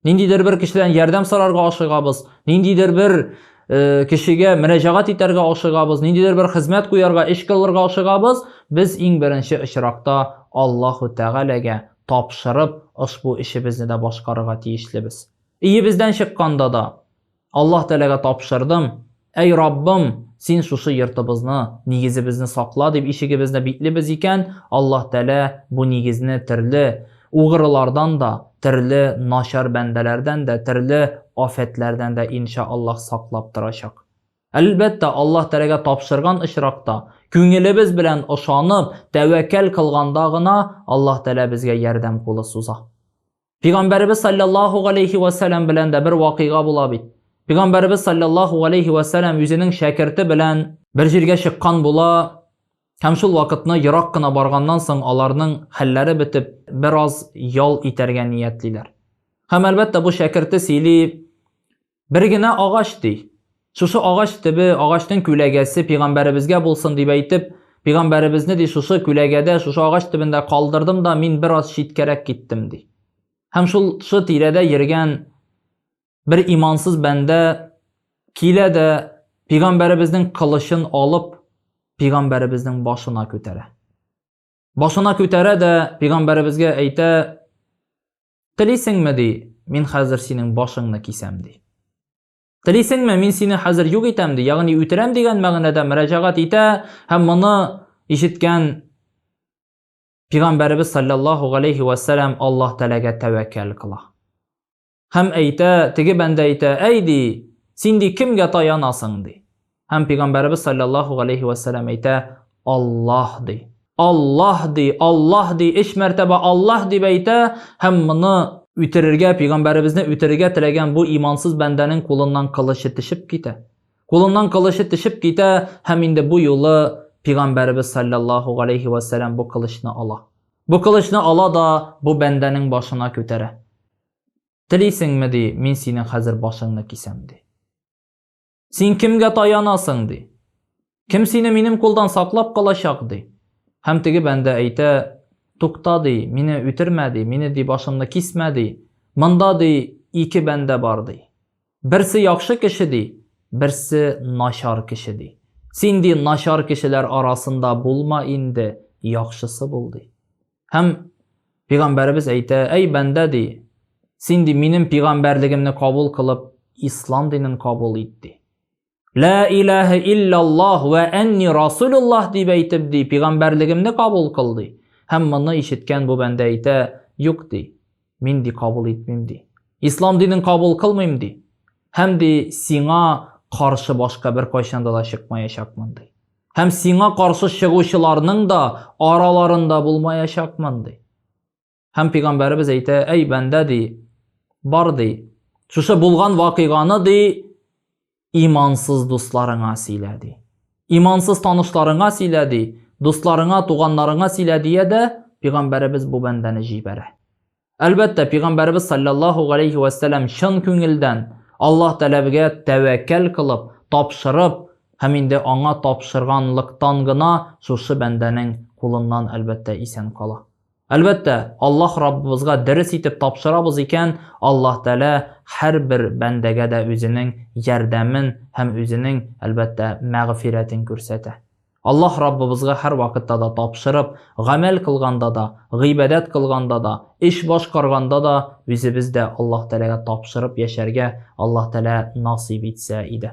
Ниндидер бер кешедән ярдәм сорарга ашыгабыз, ниндидер бер э, кешегә мөрәҗәгать итәргә ашыгабыз, ниндидер бер хезмәт куярга, эш кылырга ашыгабыз, без иң беренче очракта Аллаһу Тәгаләгә тапшырып, ошбу эшебезне дә башкарырга тиешлебез. Иебездән чыкканда да, Аллаһ Тәгаләгә тапшырдым, Әй Раббым, син шушы йортыбызны, нигезебезне сакла дип ишегебезне биклибез икән, Аллаһ Тәгалә бу нигезне төрле угрылардан да, төрле начар бәндәләрдән дә, төрле афәтләрдән дә инша Аллаһ саклап торачак. Әлбәттә, Аллаһ Тәгаләгә тапшырган очракта, күңелебез белән ышанып, тәвәккәл кылганда гына Аллаһ Тәгалә безгә ярдәм кулы суза. Пигамбәребез саллаллаху алейхи ва салям белән дә бер вакыйга була бит. Пигамбәребез саллаллаху алейхи ва салям үзенең шәкерте белән бер җиргә чыккан була, һәм шул вакытны ерак кына барганнан соң аларның хәлләре бетеп, бераз ял итәргә ниятлиләр. Һәм әлбәттә бу шәкерте сөйли, Бер генә агач ди. Шушы агач төбе, агачның күләгәсе пигамбәребезгә булсын дип әйтеп, пигамбәребезне ди шушы күләгәдә, шушы агач төбендә калдырдым да мин бераз читкәрәк киттем ди. Һәм шул шы тирәдә йөргән бер имансыз бәндә килә дә пигамбәребезнең кылычын алып, пигамбәребезнең башына күтәрә. Башына күтәрә дә пигамбәребезгә әйтә, Телисеңме, ди, мин хәзер синең башыңны кисәм, ди. Телисеңме, мин сине хәзер юк итәм, ди, ягъни үтерәм дигән мәгънәдә мөрәҗәгать итә һәм моны ишеткән Пигамбәребез саллаллаху алейхи ва салям Аллаһ Тәгаләгә тәвәккәл кыла. Һәм әйтә, теге бәндә әйтә, әй ди, син ди кемгә таянасың ди. Һәм пәйгамбәребез саллаллаху галейхи ва саллям әйтә, Аллаһ ди. Аллаһ ди, Аллаһ ди, өч мәртәбә Аллаһ дип әйтә һәм моны үтерергә, пәйгамбәребезне үтерергә теләгән бу имансыз бәндәнең кулыннан кылычы тишеп китә. Кулыннан кылычы тишеп китә һәм инде бу юлы пәйгамбәребез саллаллаху галейхи ва саллям бу кылычны ала. Бу кылычны ала да бу бәндәнең башына күтәрә. Телисеңме ди, мин синең хәзер башыңны кисәм ди. Син кемгә таянасың, ди. Кем сине минем кулдан саклап калачак, ди. Һәм теге бәндә әйтә, тукта, ди, мине үтермә, ди, мине, ди, башымны кисмә, ди. Монда, ди, ике бәндә бар, ди. Берсе яхшы кеше, ди, берсе начар кеше, ди. Син, ди, начар кешеләр арасында булма инде, яхшысы бул, ди. Һәм пигамбәребез әйтә, әй бәндә ди, син ди минем пигамбәрлегемне кабул кылып, ислам динен кабул ит ди. Ла илаһа иллаллаһ ва анни расулуллаһ дип әйтеп ди, пигамбәрлегемне кабул кыл ди. Һәм моны ишеткән бу бәндә әйтә, юк ди, мин ди кабул итмим ди. Ислам динен кабул кылмыйм ди. Һәм ди сиңа каршы башка бер кайчанда да чыкмаячакмын ди. Һәм сиңа каршы чыгучыларның да араларында булмаячакмын, ди. Һәм пигамбәребез әйтә, әй бәндә, ди, бар, ди, шушы булган вакыйганы, ди, имансыз дусларыңа сөйлә, ди. Имансыз танышларыңа сөйлә, ди, дусларыңа, туганнарыңа сөйлә, дия дә, пигамбәребез бу бәндәне җибәрә. Әлбәттә, пигамбәребез саллаллаһу галейхи ва сәлам чын күңелдән Аллаһ тәләбегә тәвәккәл кылып, тапшырып һәм инде аңа тапшырганлыктан гына шушы бәндәнең кулыннан әлбәттә исән кала. Әлбәттә, Аллаһ Раббыбызга дөрес итеп тапшырабыз икән, Аллаһ тәалә һәрбер бәндәгә дә үзенең ярдәмен һәм үзенең, әлбәттә, мәгъфирәтен күрсәтә. Аллаһ Раббыбызга һәрвакытта да тапшырып, гамәл кылганда да, гыйбадәт кылганда да, эш башкарганда да үзебез дә Аллаһ Тәгаләгә тапшырып яшәргә Аллаһ Тәгалә насыйп итсә иде.